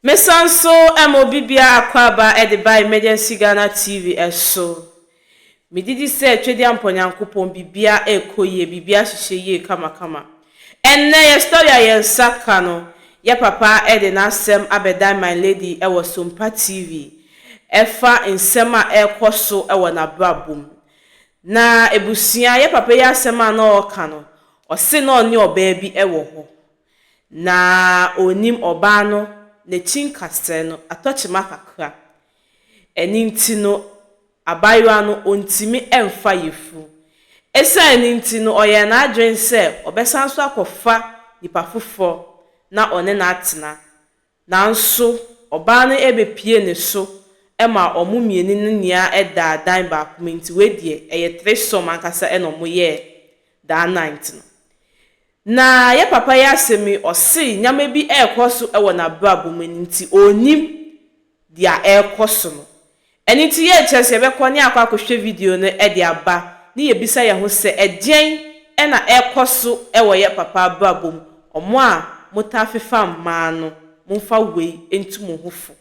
Me san nso ma obi biara akwaaba de ba Emergency Ghana TV so. Me gye di sɛ Twediampɔ Nyankopɔn biribia ɛkɔ yie, biribia ahyehyɛ yie kama kama. Ɛnnɛ yɛ story a yɛn nsa ka no, yɛ papa de n'asɛm abɛdan my lady wɔ Sompa TV ɛfa nsɛm a ɛrekɔ so wɔ n'abrabɔ mu. Na abusua, yɛ papa yi asɛm a na ɔreka no, ɔse na ɔne ɔbaa bi wɔ hɔ, Na ɔnnim ɔbaa no n'akyi nkasɛɛ no atɔkyema kakra. Ɛno nti no abaayewa no ɔntumi mfa yafunu. Ɛsiane no nti no ɔyɛɛ n'adwene sɛ ɔbɛsan so akɔfa nipa foforɔ na ɔne no atena. Nanso ɔbaa no bepie ne so ma wɔn mmieni no nyia daa dan baako mu nti wei deɛ ɛyɛ threesome ankasa na wɔn yɛɛ daa night no. Na yɛ papa yi asɛm yi ɔse nyama bi ɛɛkɔ so wɔ nabrabɔ mu nti ɔnnim dia ɛɛkɔ so no Ɛno nti yɛrekyerɛ sɛ yɛbɛkɔ ne akɔ akɔhwɛ video no de aba ne yɛbisa yɛn ho sɛ, Ɛdeɛn na ɛrekɔ so wɔ yɛn papa abrabɔ mu? Wɔn a motaa fefa mmaa no, momfa wei ntu mo ho fo.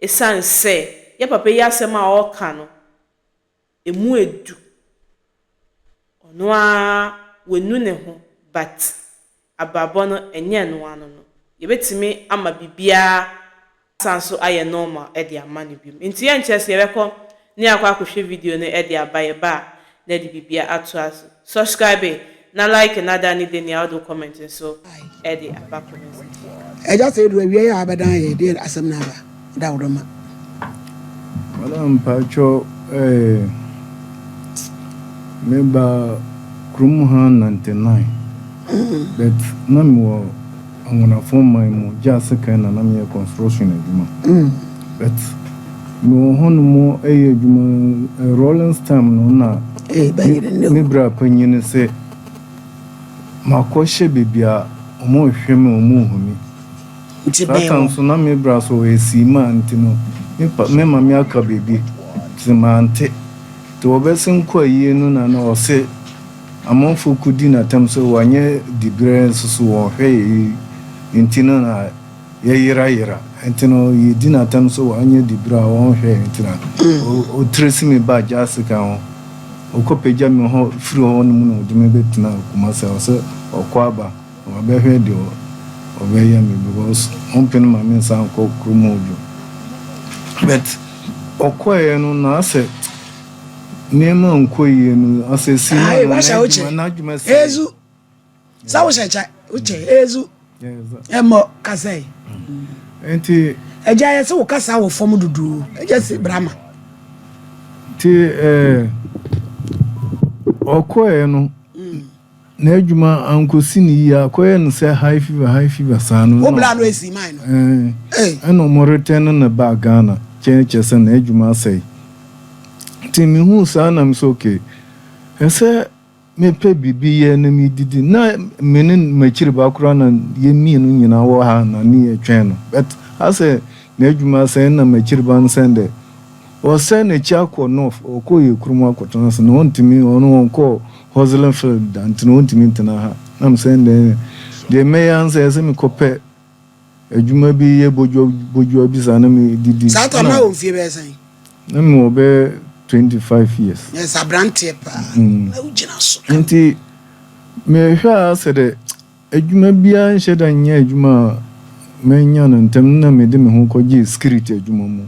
Ɛsiane sɛ yɛn papa yi asɛm a ɔreka no, ɛmu ɛdu. Ɔno ara wanu ne ho but abrabɔ no nyɛ ɛno ara no no, yɛbɛtumi ama biribiara asan so ayɛ normal de ama no bio. Enti yɛnkyerɛ sɛ yɛbɛkɔ na yɛakɔ akɔhwɛ video no de aba, yɛba a na yɛde biribiara ato ase. Subscribe na like na da ne dani a wode wo comment nso de aba comment section. Agya sɛ yɛduru awieɛ a wobɛdan yɛn deɛ asɛm no aba. daworo ma. Madam mpakyɛ ɛɛ me ba kurom ha ninety nine but na me wɔ anwonafo man mu gye asekan na na me yɛ construction adwuma but me wɔ hɔ nom ɛyɛ adwuma rolling stem no na me bra panyin sɛ makɔ hyɛ bebia ɔmo hwɛ me ɔmo humi. Nti bɛn mu. Saa time so na me bra so ɔyɛ siimaa nti no me pa me mame aka biribi nti mante nti wɔbɛsen kɔ ayie no na na ɔse amanfoɔ kɔdi no atam sɛ wanyɛ diberɛ nso so wɔnhwɛ yɛn nti no na yɛ yera yera nti no yɛdi no atam sɛ wanyɛ diberɛ a wɔnhwɛ yɛn nti na ɔ tresi me baa Gyasika ho ɔkɔ pagya me hɔ firi hɔ nom na ɔde me bɛtenaa Kumasi a ɔsɛ ɔkɔ aba Ɔbɛhwɛ deɛ ɔbɛyɛ me because ɔmpene ma me nsan nkɔ kurom hɔ bio but ɔkɔeɛ no na asɛ nneɛma ankɔ yie no asɛ si na Ayi, wahyɛ wo kyɛ. n'adwuma sɛ Ezu. Sɛ wohyɛ kyɛ, wo kyɛ. Ezu. Ɛmmɔ kasa yi. nti Agya yɛ se wo kasa wɔ fam dodoo. Agya se brama. nti ɛɛ ɔkɔeɛ no N'adwuma ankosi ne yie, akɔyɛ no sɛ high fever high fever saa no. Wo bla no esi man no. Ɛɛ ɛna wɔn retɛn no baa Ghana kyɛɛ kyɛ sɛ n'adwuma asɛe. Nti me huu saa na me sɛ okay ɛsɛ me pɛ biribi yɛ na me didi na me ne m'akyiri ba koraa na yɛ mmienu nyinaa wɔ ha na ne yɛ twɛn no but asɛ n'adwuma asɛe ɛna m'akyiri ba no sɛ ndɛ Ɔsan n'akyi akɔ North, ɔkɔ yɛ kurom akɔtena ase na ɔntumi, ɔno ɔnkɔ Hoslinfield da nti na ɔntumi ntena ha. Na me sɛ ɛnde ɛneɛ deɛ mɛyɛ ara ne sɛ ɛsɛ mekɔ pɛ adwuma bi yɛ bodwoa bodwoa bi saa na me didi. Saa time no na wɔ mfie bɛyɛ sɛn? Na me wɔ bɛyɛ twenty five years. Yes, abranteɛ paa na wo gyina so kama. Nti me hwɛ ara sɛ dɛ Adwuma biara nhyɛ da nyɛ adwuma a manya no ntɛm no na mede me ho kɔgyee security adwuma mu.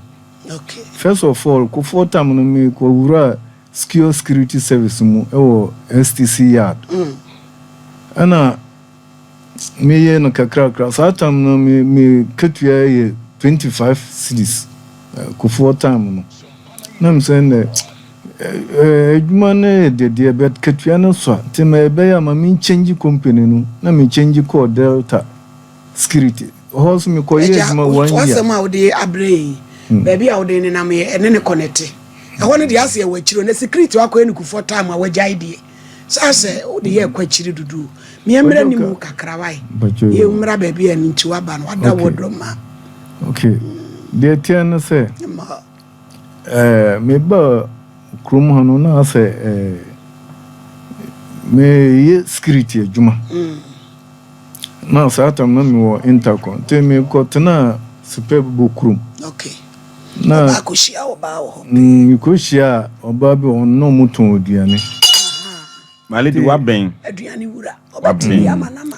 First of all, Kufuor tam no mekɔwuraa Secure Security Service mu wɔ STC Yard. Ɛna meyɛɛ no kakrakra. Saa tam no me me katua yɛ twenty five cedis, Kufuor time no. Na mesɛ ndɛ. Edwuma no yɛ dɛ deɛ but katua no sua nti ma ɛbɛyɛ a ma me change company no na me change kɔɔ Delta security hɔ nso me kɔ yɛɛ adwuma one year. Agya w'asɛm a wode abrɛ yɛn yi baabi a wode nenam yɛ ɛne ne connecte ɛhɔ no deɛ ase ɛwɔ akyire o na security wakɔ yɛ no kufoɔ time a wagyae deɛ sɛ asɛ wode yɛ ɛkɔ akyire dodo o me ɛmmerɛ ne mu kakra wae yɛ mmra baabi a ɛno nti waba no wada wɔ dɔ ma. Okay deɛ ɛteɛ ne sɛ. Eh, mebaa kurom ha no na asɛ eh, meyɛ security adwuma. Mm. Na saa tam na mewɔ intercom nti mekɔtenaa Superb bɔ kurom. Okay. Na ɔbaa kɔhyia ɔbaa wɔ hɔ. Mm, mekɔhyia ɔbaa bi wɔ hɔ na ɔmotɔn aduane. Maledi wabɛn. Aduane wura. Ɔbɛtumi ama nama.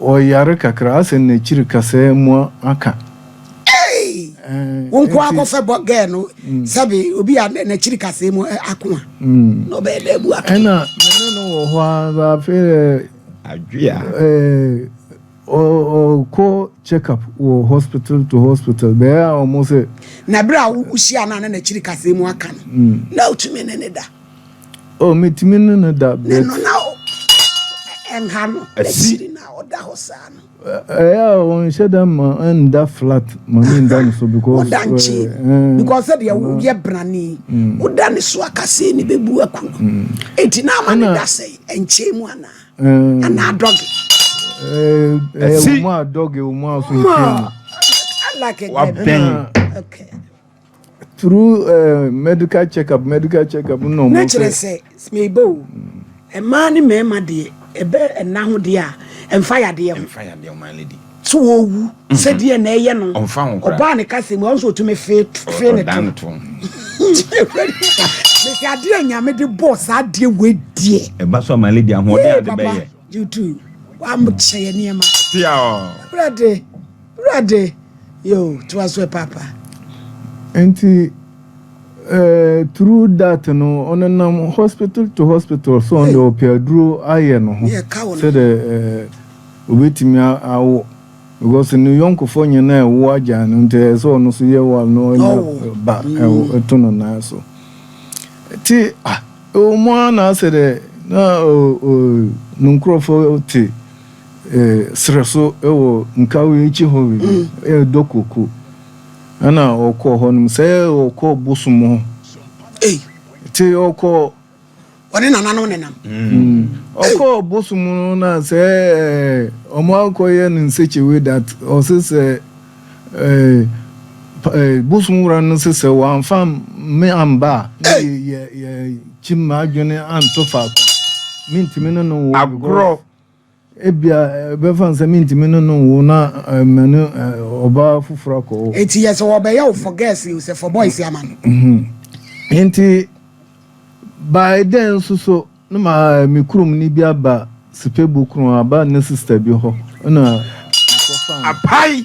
Ɔyare kakra asɛ nakyiri kasaa mu aka. Eii wo nko ara kɔfɛ bɔ girl no sɛbe obi a nakyiri kasaa mu ako a na ɔbɛyɛ dɛ abu aka. Ɛna mene no wɔ hɔ ara afei dɛ adwea ɔkɔ check up wɔ hospital to hospital bɛyɛ a ɔmo sɛ. Na bere a wo hyia no a na nakyiri kasaa mu aka no na otumi ne ne da. Oh, metumi ne no da break. Ne no na o. Ɛnha no. Ɛsiri na ɔda hɔ saa no. Ɛyɛ a wɔnhyɛ da ma ɛnda flat ma ne nda no so because. Ɔda nkye because sɛdeɛ woyɛ brani. Woda ne so akasee ne bɛbu aku. Eti na ama ne da sɛ ɛnkyee mu anaa. Anaa dɔge. Ɛsi. Ɛwɔ mu a dɔge, ɛwɔ mu a so. Wabɛn. Okay. through uh, medical checkup medical checkup na ɔmo. na kyerɛ sɛ meba o mmaa ne mmarima deɛ ɛbɛ ɛna ho deɛ a ɛnfa yadeɛ ho ɛnfa yadeɛ ho maa lady so wɔwu mhm. sɛdeɛ na ɛyɛ no ɔbaa ne kasa mu ɔnso ɔtumi fee fee ne to mesi adeɛ nyame de bɔɔ saa adeɛ wɔ adie ɛba so ama lady ahoɔden ade bɛyɛ you too wamokyɛ yɛ nneɛma ɛbrɛ de Wurade, yoo, toa so ɛ paapa. Nti eh, through that no, ɔnenam hospital to hospital so ɔno deɛ ɔpɛ aduro ayɛ no ho sɛ dɛ eh, obetumi awo because ne yɔnkofoɔ nyinaa ɛwo agya no nti ɛyɛ sɛ ɔno so yɛ wa no ɔnya ba ɛwo ɛto no nan so ti ah ɛwɔ mu ara na asɛ dɛ na o o ne nkurɔfoɔ te serɛ so wɔ Nkawee akyi hɔ baabi, ɛyɛ Dɔkoko. Ɛna ɔkɔɔ hɔ nom sɛ ɔkɔ bosom hɔ. Te ɔkɔ. Ɔne nananom nenam. Mm. Ɔkɔ bosom no na sɛ ɔmo akɔyɛ no nsekyewe dat ɔse sɛ bosom wura no se sɛ wɔamfa me amba a ne yɛ kyim m'adwene anto faako. Mentumi ne no wo. Agorɔ. Ebia ɛbɛfa no sɛ mintumi ne no nwo na ma ne ɔbaa foforo akɔ hɔ. Enti yɛ sɛ wɔbɛyɛ wo for girls yi sɛ for boys ama no. Enti by then nso so na ma me kurom ni bi aba Sipebo kron aba ne sister bi hɔ na mekɔfa. Apae.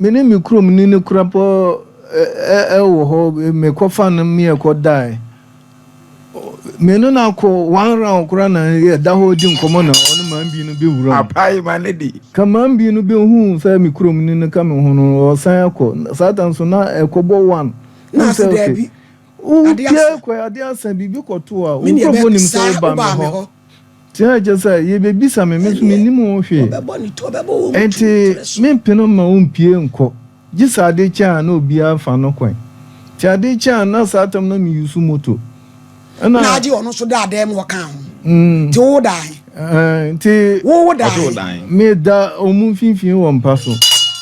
Me ne me kurom ni no kura pɔ ɛ ɛ wɔ hɔ me kɔ fa no me ɛ kɔ da ɛ me no na kɔ one round kura na ɛ da hɔ di nkɔmɔ na ɔ ne maame bi no bɛ wura mu. Apae ma ne di. Ka maame bi no bɛ hu sɛ me kurom ni no ka me ho no ɔ san ɛ kɔ saa ta nso na ɛ kɔ bɔ one hu sɛ ɔ kɛ ɔ kɛ ɛ kɔ ɛ ade asa biribi kɔ to a ɔ nkorɔfoɔ nim sɛ wo ba me hɔ. Ti a ɛkyɛ sɛ yɛbɛbisa me, me nso mennim ho hwee, enti mempene no mma ɔmpue nkɔ, gye sɛ adeɛ kyɛ a na obiara fa no kwan. Nti adeɛ kyɛ a na saa tam na meyusu moto. Ɛna. Na agye ɔno nso daa dan mu ɔka ho. Nti wowo dan. Nti. Wowo dan. Meda ɔmo mfimfini wɔ mpa so.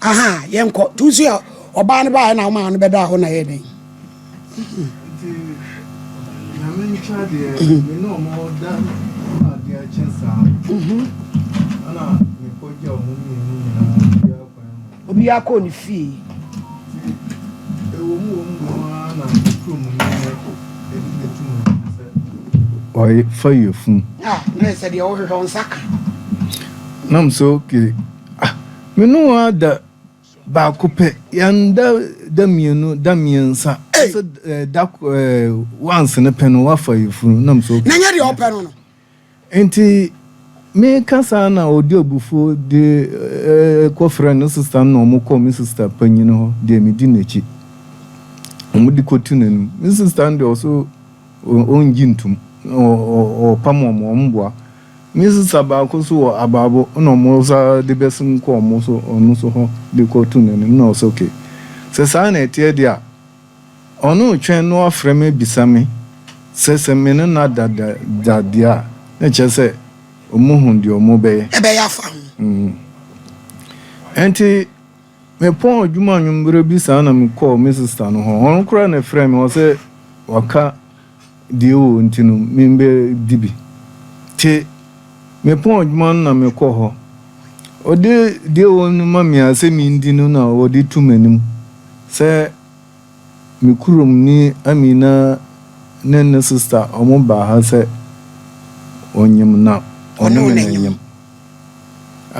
aha yɛnkɔ tu nso yɛ ɔbaa no baayɛ na ɔmaa no bɛdaa hɔ na yɛ dɛn obiara kɔɔ ne fie ɔyɛ fa yɛ fun ah na ɛsɛ deɛ ɔhwehwɛ ɔnsa ka nam so ke Ah, me ne wo ada baako pɛ. Yɛnda da mmienu, da mmiɛnsa. Hey. Sɛ eh, da eh, once no pɛ no wafa yɛfunu nam so. Na nyɛ deɛ ɔpɛ no no. Nti meka saa na ɔdi abufuo de eh, kɔfrɛ ne sista no na wɔn kɔ me sista panyin hɔ deɛ medi n'akyi. Wɔn de kɔtu n'anim. Me sista no deɛ ɔso ɔngye ntum na ɔpam wɔn wɔn mboa. Nye sesa baako so wɔ abaabo nna ɔmo sa de bɛsen kɔ ɔmo so ɔno so hɔ de kɔ to n'enim nna ɔse ok sɛ saa na ɛteɛ de a ɔno retwɛn na ɔafrɛ me ebisa me sɛ sɛ me ne no ada da deɛ a na kyerɛ sɛ ɔmo hu deɛ ɔmo bɛyɛ. Ɛbɛyɛ afa ho. Ɛnti. Mepɔn adwuma anwumerɛ bi saa na mekɔɔ me sista no hɔ. Ɔno koraa na ɛfrɛɛ me, ɔsɛ waka deɛ ɛwɔ nti no membɛdi bi. Te mepɔn adwuma no na mekɔ hɔ. Ɔde deɛ ɛwɔ no ma me a sɛ mendi no na ɔde tu m'anim sɛ Me kurom ni Amina ne ne sista ɔmo baa ha sɛ ɔnyem na ɔne me na nyem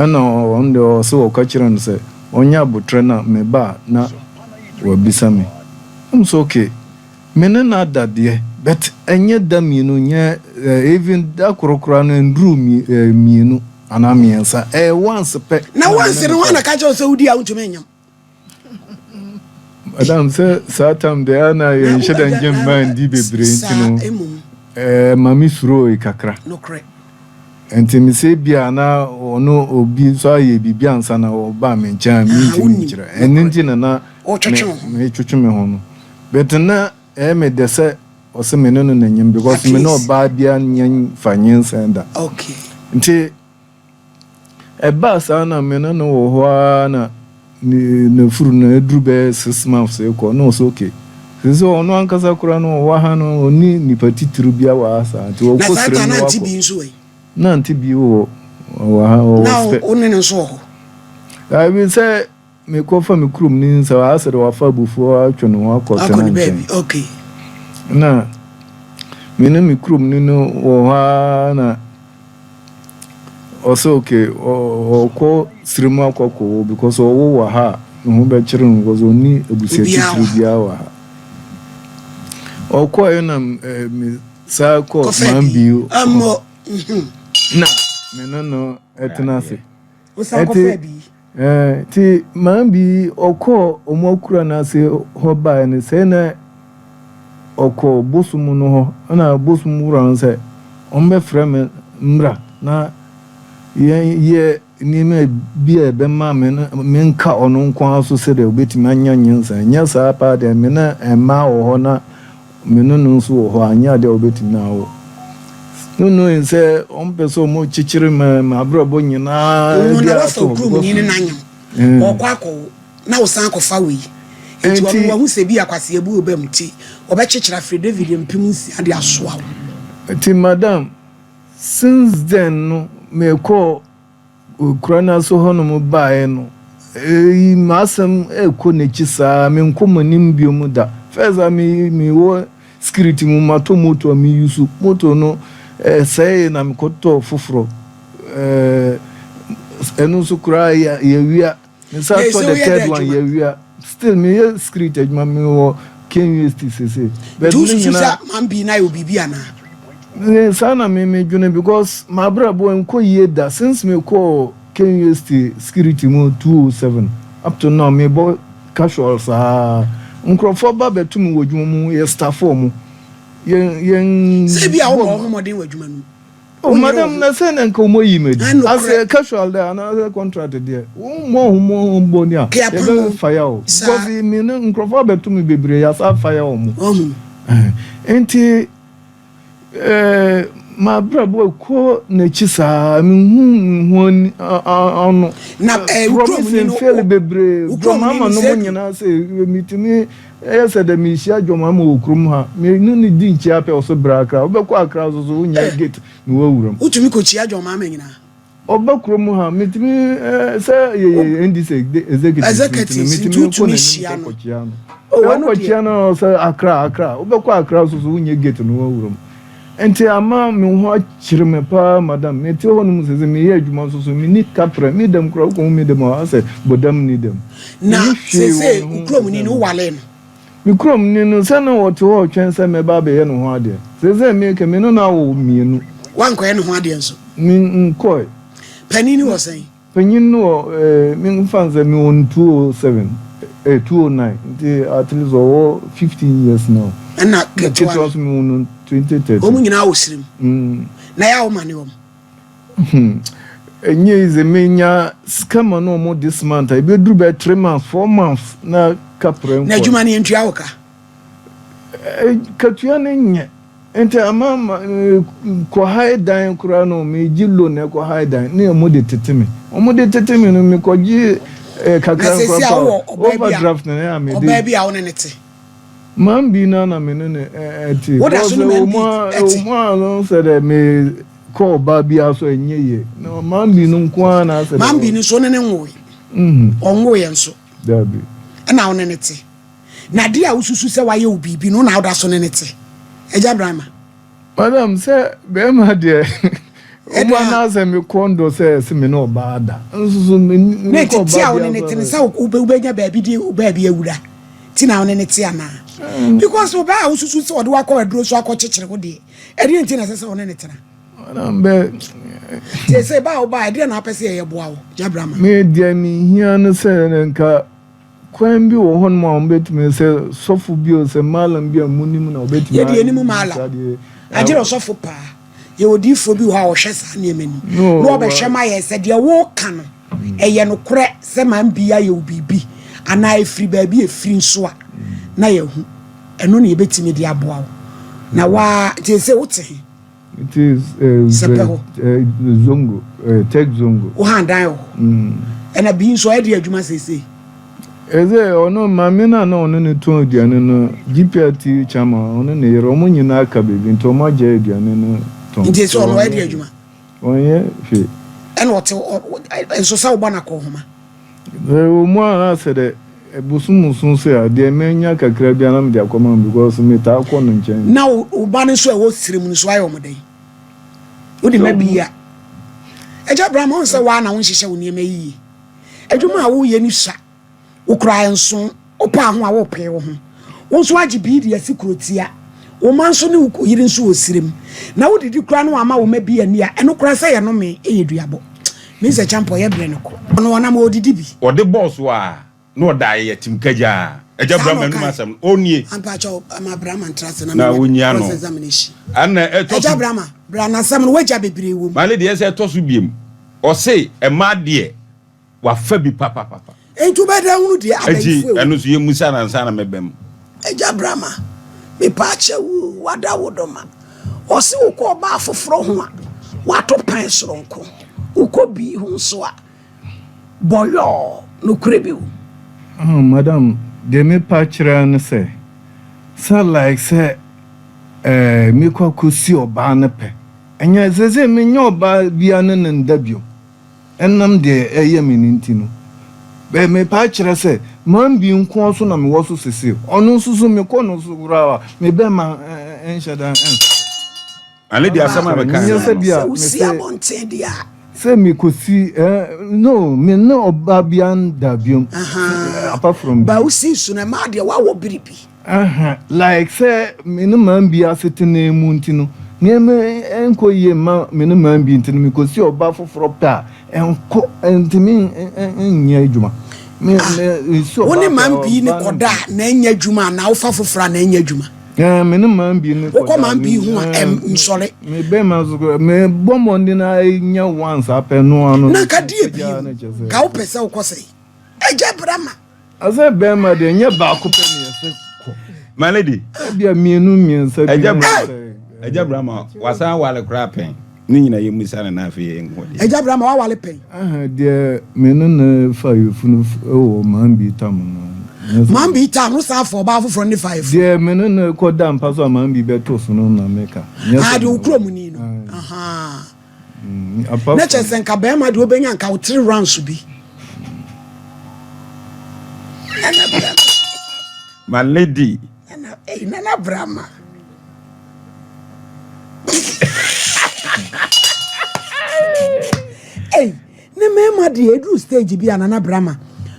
ɛna ɔno deɛ ɔse ɔka kyerɛ no sɛ ɔnyɛ abotrɛ na me ba a na wabisa me ɛm sɛ ok me ne no ada deɛ but ɛnyɛ da mienu nyɛ even da koro koraa no ɛnduru mienu anaa miensa ɛyɛ once pɛ. Na once no hwan na ka kyerɛ wo sɛ wodi a wontumi nyem? Madam, sɛ saa tam deɛ a na yɛnhyɛ da ngye mmaa ndi bebree nti no, ɛma me surooe kakra. Nti mesɛ ebia na ɔno obi nso ayɛ biribi ansa na ɔbaa me nkyɛn a mentumi nkyerɛ. Ɛno nti na na metwetwe me ho no. But na ɛyɛ me dɛ sɛ ɔse me ne no na nyem because me ne ɔbaa biara nyɛ mfa nyinsɛn da. Nti Ɛbaa saa na me ne no wɔ hɔ ara na n'afuru no aduru bɛyɛ six months rekɔ na ɔsɛ okay. Te sɛ ɔno ankasa koraa no ɔwɔ ha no ɔnni nipa titiriw biara wɔ ha saa nti ɔkɔ srɛ mu na wakɔ. Nante bi wɔ hɔ wɔ ha ɔwɔ spɛ. Na wo ne no nso wɔ hɔ. Ɛbi sɛ. Mekɔ fa me kurom ne nsa hɔ asɛ dɛ wafa abufuo atwe ne ho akɔ Akɔ ne baabi Tena-nkyɛn. okay. Na me ne me kurom ni no wɔ hɔ ara na ɔsɛ okay ɔ ɔkɔ srɛ mu akɔ kɔ wo because ɔwo wɔ ha a ne ho bɛkyere no because ɔnni abusua Obiara wɔ titire ha. biara wɔ ha. Ɔkɔeɛ na m ɛ me saa kɔ Kɔfɛ bi Manbio hɔ ammɔ mhm. na me ne no tena ase. Wosan kɔfaa bi. Nti maa bi ɔkɔɔ ɔmo akura no ase hɔ baeɛ no sɛ na ɔkɔɔ bosom no hɔ ɛna bosom wura no sɛ ɔmo bɛfrɛ me mmra na yɛn yɛ nneɛma bi a ɛbɛma me me nka ɔno nko ara so sɛdeɛ ɔbɛtumi anya nyansa nyɛ saa paa deɛ me na mmaa wɔ hɔ na Me ne no nso wɔ hɔ a, anyɛ ade a wobetumi na awo no no en sɛ wɔmpɛ sɛ wɔkyekyere ma m'abrabɔ nyinaa Ɔno na wafa wo kurom ni ne n'anyem, ɔrekɔ akɔwo, na wosan akɔfa wei. Enti ɔno wahu sɛ ebia kwasea bi wɔ ba mu nti, ɔbɛkyekyere afiri David mpem nsia de asoa wo. Enti madam, since then no, mekɔɔ. Okura no ase hɔnom baeɛ no, eii m'asɛm ɛrekɔ n'akyi saa, menkɔ mo anim biom da. First a me mewɔ security mu matɔ motor a me use, motor no ɛsɛee na mekɔtɔɔ foforɔ, ɛɛ ɛno nso koraa yɛawia. Mesa Hey, so tɔ the woyɛ dɛ third one adwuma? yɛawia still meyɛ security adwuma mewɔ KUST sese Nti but ne wosusu sɛ nyinaa man pii no ayɛ wo biribi anaa? ne saa na me medwene because m'abrabɔ ɛnkɔ yie da since mekɔɔ KUST security mu 2007 up to now mebɔ casual saa nkurɔfoɔ ba bɛto me wɔ adwuma mu yɛ staff wɔn yɛn yɛn Sɛ ebia wobɔ wo ho mmɔden wɔ adwuma no mu. Wo madam na sɛ na nka wɔayi no adi. Asɛ casual dɛ anaasɛ contract deɛ wommɔ ho mo ho mbɔ ni a yɛbɛfaya o. Because me no nkurɔfoɔ abɛto me bebree yɛasa afaya wɔn. Nti m'abrabɔ ɛkɔ n'akyi saa menhu me ho ano. Promise mfeɛle bebree, deɛ mama no mo nyinaa sɛ metumi. Yɛ sɛ dɛ mirihyia John Mahama wɔ kurom ha, me no no di nkyia pɛ ɔso bra Accra. Wobɛkɔ Accra nso so wonnya Eh! gate na woawura mu. Wotumi kɔkyia John Mahama nyinaa? Ɔba kurom ha, metumi eh, sɛ yɛyɛ Wo. NDC executives nti no, Executives nti metumi kɔ wotumi n'anim hyia sɛ no? kɔkyia no. Oh, Sɛ ɛno deɛ. wokɔkyia no ɔsɛ Accra, Accra. Wobɛkɔ Accra nso so wonnya gate na woawura mu. Enti ama me ho akyere me paa madam. Mete hɔ nom sese meyɛ adwuma nso so meni kaprɛ. Me dɛm koraa wokohu me dɛm a woahu sɛ bodam nni dɛm. Na Menni hwee wɔ sese me ho wo te kuromni sɛ no me. wowalee no? Me kuromni no sɛ na ɔte hɔ retwɛn sɛ mɛba abɛyɛ ne ho adeɛ. Sese meka me ne no awo mmienu. Woankɔyɛ ne ho adeɛ nso? Me nkɔe. Panin no wɔ sɛn? Panyin no wɔ me nfa no sɛ me wɔ no two o seven eh two o nine nti at least ɔwɔ fifteen years now Ɛna na ketewa ketewa no nso me wɔ no twenty wɔn thirteen. nyinaa wɔ srem Mm. na yɛ a wo ma ne wɔn. Hmm ɛnyɛ easy me nya sika ma no wɔn this month a ebeduru bɛyɛ three months four months na kaprɛ Na nkɔɛ. adwuma no yɛntua wo ka. katua no nyɛ nti ama ma kɔhae dan koraa no megye lo na ɛkɔhae dan ne ɔmo de tete me ɔmo de tete me no mekɔgye eh, kakra nkora pa overdraft na ya mede ɔbaa bi a wone ne te mam bi na na me ne ne ɛte woda so ne mam bi ɛte ɔmo a no sɛ dɛ me kɔ ɔbaa bi aso ɛnyɛ yie na mam bi no nko ara na asɛ mam bi no nso ne ne nwoe ɔnwoe yɛ nso dabi ɛna wone ne te Na deɛ a wosusu sɛ wayɛ wo biribi no, wo na woda so ne no te. Agya Brahma. Madam, sɛ bɛrima deɛ, ɔbaa no ara sɛ mekɔ ndɔ sɛ se me ne ɔbaa ada. Nso so me ne ɔbaa biara. Na tete a wo ne ne te no, sɛ wobɛnya baabi de ɔbaa bi awura nti na wo ne ne te anaa? Because ɔbaa a wosusu sɛ ɔde wakɔ aduro so akɔkyekyere wo deɛ, ɛdeɛ nti na ɛsɛ sɛ wo ne ne tena? Madam, bɛ. Te sɛ baa wobaa, ɛdeɛ na wopɛ sɛ yɛyɛ boa wo, Agya Brahma? Me deɛ mehia no sɛ nka. Kwan bi wɔ hɔnom a wɔbɛtumi sɛ sɔfo bi o, sɛ malam bi a monim na wɔbɛtumi ayɛ. Yɛde yɛnim malam. Agye dɛ sɔfo paa. Yɛwɔ odiyifoɔ bi wɔ hɔ a ɔhwɛ saa nneɛma no mu. Na ɔbɛhwɛ ma yɛn sɛ deɛ woreka no, ɛyɛ nokorɛ sɛ man bi ayɛ wo biribi anaa ɛfiri baabi a ɛfiri nso a, na yɛahu. Ɛno na yɛbɛtumi de aboa wo. Na woa, nti ɛsɛ wote he? sɛpɛ hɔ woha dan wɔ hɔ ɛna bi nso ɛde adwuma seesei ɛsɛ ɔno maame no a na ɔno ne tɔn aduane no gprt chama ɔno ne yere ɔmo nyinaa aka baabi nti ɔmo agya aduane no tɔn nti sɛ ɔno ɛde adwuma ɔnyɛ hwee ɛna ɔte nso sɛ wobɔ no akɔ homa Sɛ ewɔ mu a na sɛ dɛ bosoom bosoom sei a, deɛ mɛnya kakra bi a na mede akɔma no because metaa kɔ no nkyɛn. Na wo wo ba no nso a ɛwɔ srem no nso ayɛ wɔn dɛn? Wode ma bi a. Agya Abraham ɔn sɛ wo ara na wonhyehyɛ wo nneɛma yiye. Adwuma a woyɛ no sua. Wo koraa nso Wopaa ho a worepee wo ho. Wo nso woagye bi de asi kurotia. Wo mma nso ne wo yere nso wɔ serem. Na wodidi koraa na wɔama wo mma bi ani a ɛno koraa sɛ yɛnomee ɛyɛ duabɔ. Minsɛ Champɔ yɛ brɛ no kɔ. Ɔno ɔnam a ɔdidi bi. Ɔde bɔɔ so a na ɔda ayɛ yatim kagyaa. Agya Saa na Brahma anum ɔkae. asɛm no. Ɔnnie. Ampa kyɛ wo ma Brahma ntra ase na Na menya ɔnyia no. cross examination. Ɛna ɛtɔ Agya so. Brahma, bra nasɛm no w'agya bebree wɔ mu. Male deɛ ɛsɛ ɛtɔ so biom. Ɔse mmaa deɛ. Wafa bi papapapa. Enti wobɛda hunu deɛ abayifo ewu. Ɛno nso yɛ musa na nsa na mɛbɛ mu. Agya Brama, me paa kyɛ wuu, wada wo dɔ ma. Ɔse wo kɔ ɔbaa foforɔ ho a, wato pɛn soronko. Wo kɔ bii ho nso a, bɔyɔɔ, nokorɛ bi wo. Ah madam deɛ me pa kyerɛ ne sɛ, sɛ like sɛ eh me kɔ akɔ si ɔbaa no pɛ, ɛnyɛ sesei me nyɛ ɔbaa bia ne no nda biom. Ɛnam deɛ ɛyɛ me no nti no, bɛ mepae kyerɛ sɛ Manbee nkoa so na mewɔ so sesei. Ɔno nso so mekɔ no so koraa a, me bɛmma nhyɛ da nsɔre. Ɛno deɛ asɛm a mekaeɛ no no. Sɛ wosi abɔnten deɛ a. Sɛ mekɔsi, eh, no, me ne ɔbaa biara nda biom, apart from. Ba wosi nso no, ɛmaa deɛ wawo biribi. Aha, like sɛ me ne man bi asetena mu nti no, nneɛma nkɔ yie mma me ne man bi nti no, mekɔsi ɔbaa foforɔ pɛ a, ɛnkɔ, ɛntumi nyɛ adwuma. Me, Ah, me, mesi wo ɔbaa ne pɛ man a, bi ne ɔbaa no kɔda a, na ɛnyɛ adwuma anaa wofa foforɔ a, na ɛnyɛ adwuma? Ɛɛ, me ne man bi ne Wokɔ kɔda man bi ho a, ɛm, ɛɛ, nsɔre. me bɛrima nso kɔ, mebɔ mmɔden ara nya once apɛ no ano Na no, nka deɛ ɛgya bio, no kyɛ sɛ nka wopɛ sɛ wokɔ sɛe? Ɛgya bra ma. Ɔsɛ bɛrima deɛ nyɛ baako pɛ na yɛsɛ kɔ. My lady. Ebia mmienu mmiɛnsa bi. Ɛgya brama ɛgya brama wasan awale koraa pɛn ne nyina yɛ musa ne n'afɛ yɛ nko deɛ. Ɛgya brama wawale pɛn. Aha deɛ me ne ne fa yɛfunu wɔ man bi tam no. Man bi tam no saa fɔ ɔbaa foforɔ ne fa yɛfunu. Deɛ me ne ne kɔ da mpa so a man bi bɛto so no na meka. Aha deɛ okuro mu ni no. Aha. mm, na kyerɛ sɛ nka bɛrima deɛ wobɛnya nka wo three rounds bi my lady nana brama ei ne mmarima deɛ ɛduru stage bi a nana brama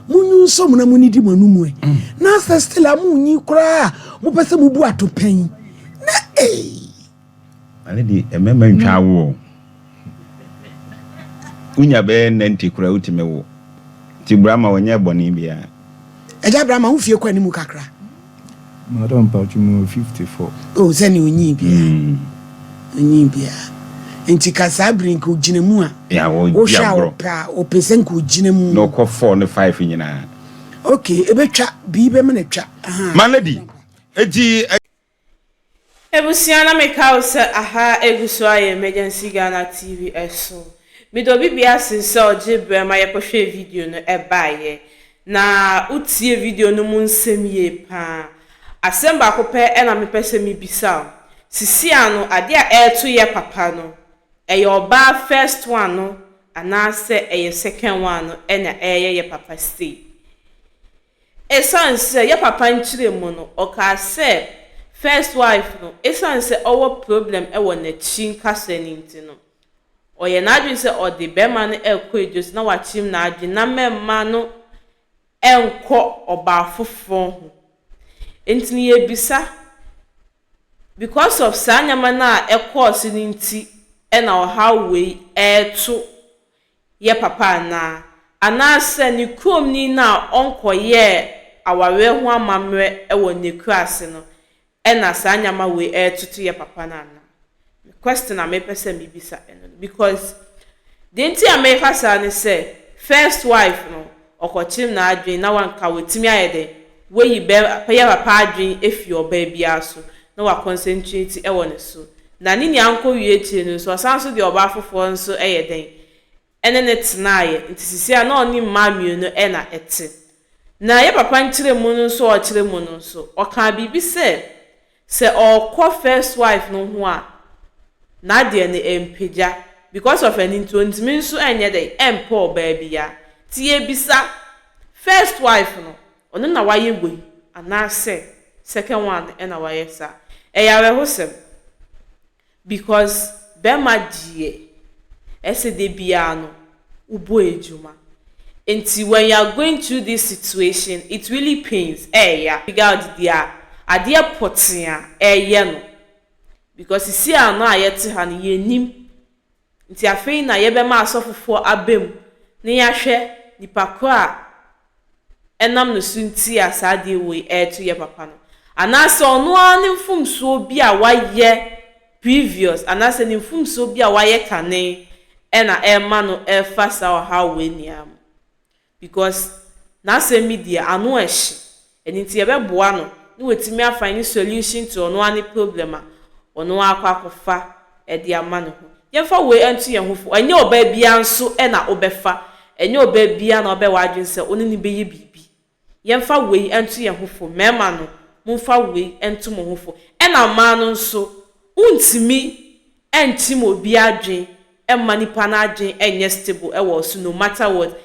munyi nso mu na munyi di mu anum ɛ mm. na asɛ still a munyi koraa mopɛ sɛ mubu atopɛn na ei Ade de mmarima ntwa awo o. Wonya bɛyɛ ninety koraa wotumi wo. Nti Brama ɔnyɛɛ bɔne biara. Agya Brama wo fie kɔ anim kakra. Madam mpacho me wɔ fifty four. Oh sɛnea onyin biaa onyin biaa nti ka saa bere nka ogyina mu a wohwɛ a ɔpɛ a ɔpɛ sɛ nka ogyina mu na ɔkɔ four ne five nyinaa. Okay ebetwa bii bɛma no atwa ahaa. Malady eti. Ebusua na me ka wo sɛ aha egu so ayɛ emergency Ghana TV ɛso me de obi bia se sɛ ɔgye brɛ ma yɛkɔ hwɛɛ video no ɛbaeɛ na wo tie video no mu nsɛm yie paa asɛm baako pɛ ɛna me pɛ sɛ me bisa wo sisi ano adeɛ a ɛɛto yɛ papa no ɛyɛ ɔbaa first one no anaa sɛ ɛyɛ second one no ɛna ɛɛyɛ yɛ papa sei Esiane sɛ yɛ papa nkyerɛ mu no, ɔkaa sɛ first wife no, esiane sɛ ɔwɔ problem wɔ n'akyi nkasa no nti no, ɔyɛ n'adwene sɛ ɔde barima no rekɔ adwasi na wakyem n'adwene na mɛmma no nkɔ ɔbaa foforɔ ho. Nti no yɛbisa, because of saa nneɛma no a ɛkɔɔ so no nti na ɔhaw wei reto yɛ papa anaa, anaasɛ ne kuromni no a ɔnkɔyɛɛ awareɛ ho amammerɛ wɔ n'akuraase no na saa nneɛma wei retoto yɛ papa no anaa? Me question a mepɛ sɛ mebisa ɛno no because deɛ nti a meka saa ne sɛ first wife no Ɔkɔkyerem n'adwene na wanka watumi ayɛ dɛn? Wayi bɛ pɛyɛ papa adwene afi ɔbaa biara so na wa concentrate ɛwɔ ne so. Na ne nua nkɔ wie akyire no nso ɔsan nso de ɔbaa foforɔ nso ɛyɛ dɛn? Ɛne no tenaeɛ. Nti sisi a na ɔne mmaa mmienu ɛna ɛte. Na yɛ papa nkyerɛmu no nso a ɔkyerɛ mu no nso ɔkaa biribi sɛ Sɛ ɔkɔ first wife no ho a nadeɛ no ɛmpagya because of ɛno nti ɔntumi nso ɛnyɛ dɛn ɛmpɛ ɔbaa biaa nti yɛbisa first wife no ɔno na wayɛ wei anaasɛ second one no ɛna wayɛ saa ɛyɛ awerɛhosɛm. Because bɛma deɛ ɛsɛ da biara no wo bɔ adwuma nti when you are going through this situation it really pains ɛɛya big out deɛ a adeɛ pɔtee a ɛɛyɛ no because sisi a no a yɛte ha no yɛnnim Nti afei na yɛbɛma asɔfofoɔ aba mu na yɛahwɛ nipa korɔ a ɛnam ne so nti a saa adeɛ wei reto yɛ papa no. Anaasɛ ɔno ara ne mfomsoɔ bi a wayɛ previous anaasɛ ne mfomsoɔ bi a wayɛ kane na ɛrema no refa saa ɔhaw wei nyinaa mu. because n'asɛm bi deɛ ano ɛhye ɛno nti yɛbɛboa no na watumi a find solution to ɔno ara ne problem a ɔno ara akɔ akɔfa de ama ne ho. Yɛmfa wei nto yɛn ho fo, ɛnyɛ ɔbaa biara nso na wobɛfa, ɛnyɛ ɔbaa biara na wobɛyɛ w'adwene sɛ wone no bɛyɛ biribi. Yɛmfa wei nto yɛn ho fo, mmarima no momfa wei nto mo ho fo, ɛna mmaa no nso wontumi ɛnkyem obi adwen ɛmma nipa no adwen ɛnyɛ stable ɛwɔ so no matter what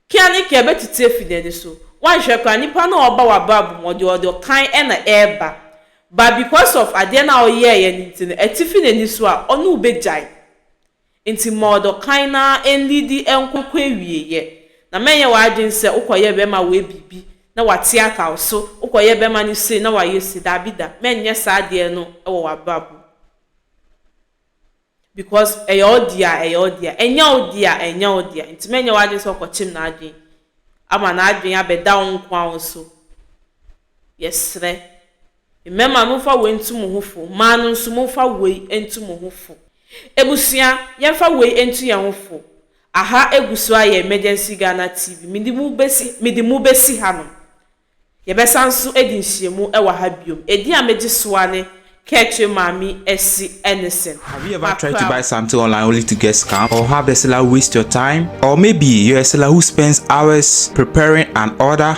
Kea ne kea bɛtutu afi nani so woanhwɛ koraa nipa no a ɔba wabrabɔ mu ɔdeɛ ɔde ɔkan ɛna ɛɛba but because of adeɛ no a ɔyɛɛyɛ no nti no ɛte fi nani so a ɔne wo bɛgyae nti ma ɔde ɔkan no ara ɛnliidi ɛnkɔ kɔ awieyɛ na mɛnyɛ w'adwen sɛ wokɔyɛ bɛma woɛ biribi na wate aka wo so, wokɔyɛ bɛma no sei na wayɛ sei, daabi da, mɛnyɛ saa adeɛ no wɔ w'abrabɔ mu because ɛyɛ wo dea a, ɛyɛ wo dea, ɛnyɛ wo dea a, ɛnyɛ wo dea, nti mɛnyɛ w'adwene sɛ wokɔkyem n'adwene ama n'adwene abɛda wo nko ara wo so, yɛsrɛ, mmarima momfa wei ntu mo ho fo, mmaa no nso momfa wei ntu mo ho fo, abusua yɛmfa wei ntu yɛn ho fo, Aha egu so ayɛ Emergency Ghana TV. Mede mo besi mede mo besi hanom. Yɛbɛsan nso adi nhyiamu wɔ ha biom. Edin a megye so ara ne Kɛtwe Maame Asi Ennison. Have you ever tried to buy something online only to get scammed or have the seller waste your time? Or maybe you're a seller who spends hours preparing an order?